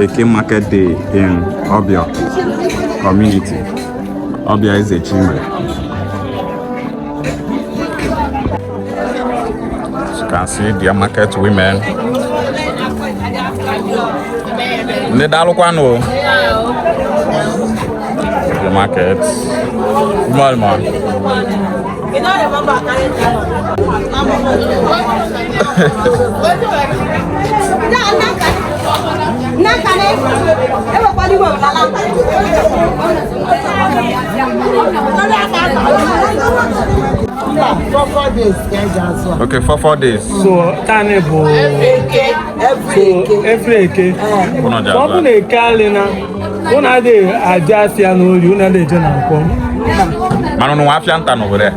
Eke Market Day in Obio community. Obio is a chimney. As you can see, their market women. Ndị daalụkwanụ the market. Good morning, ma. Okay, for four days. So, tani bụ every eke. Ọ bụ na eke alị na ụnụ adịghị eje asịa n'orie, ụnụ adịghị eje na nkwọ. Mana ụnụ nwe afịa nta n'owere.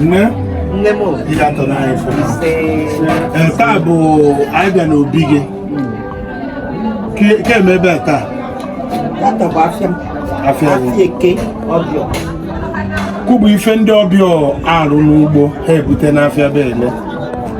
nne nne m obi ya tọrọ anyị fọ ee taa bụ anyị bịa n'obi gị ka eme ebe a taa tata bụ afịa afịa eke Obior ke bụ ife ndị Obior arụ n'ugbo ha ebute n'afịa bele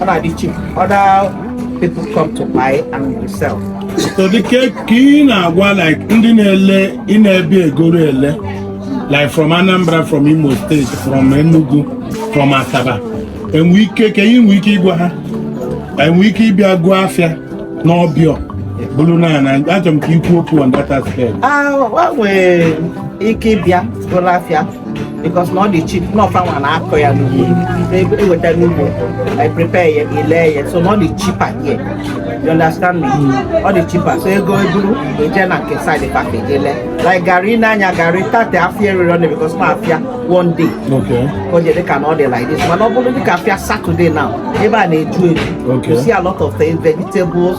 Ọ na-adị cheap. Other people come to buy and resell. so dịka ka ị na-agwa like ndị na-ele ndị na-egoro ele like from Anambra from Imo State from Enugu from Asaba enwe ike ka ị nwee ike ịgwa ha enwe ike ịbịa goo afịa n'Obior buru naa na achọrọ m ka i kwuo okwu on that aspect Ah, wa nwe ike ịbịa goro afịa because na ọ dị cheap na ọ fa nwa na-akọ ya n'ugbo eweta n'ugbo i prepare ya i lee ya so na ọ dị cheaper here you understand me ọ dị cheaper so e go e buru eje na nke side package e lee like garri now garri tata afịa eriri ọnụ because na afịa Monday Okay. ka ọ dị dịka na ọ dị like this mana ọ bụrụ dịka afịa Saturday now ebe a na-eju eju Okay. you see a lot of things vegetables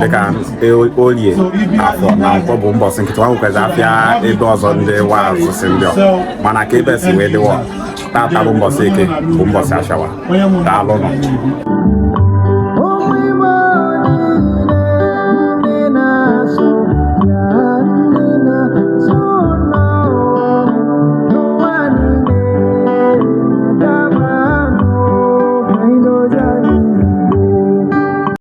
dịka e, olie afọ na nkwọ bụ mbọsị nkịtị wa nwekwazị afịa ebe ọzọ ndị wa azụsị ndị ọ mana ka ebe si wee dịwa tata bụ mbọsị eke bụ mbọsị ashịa wa daalụ nọ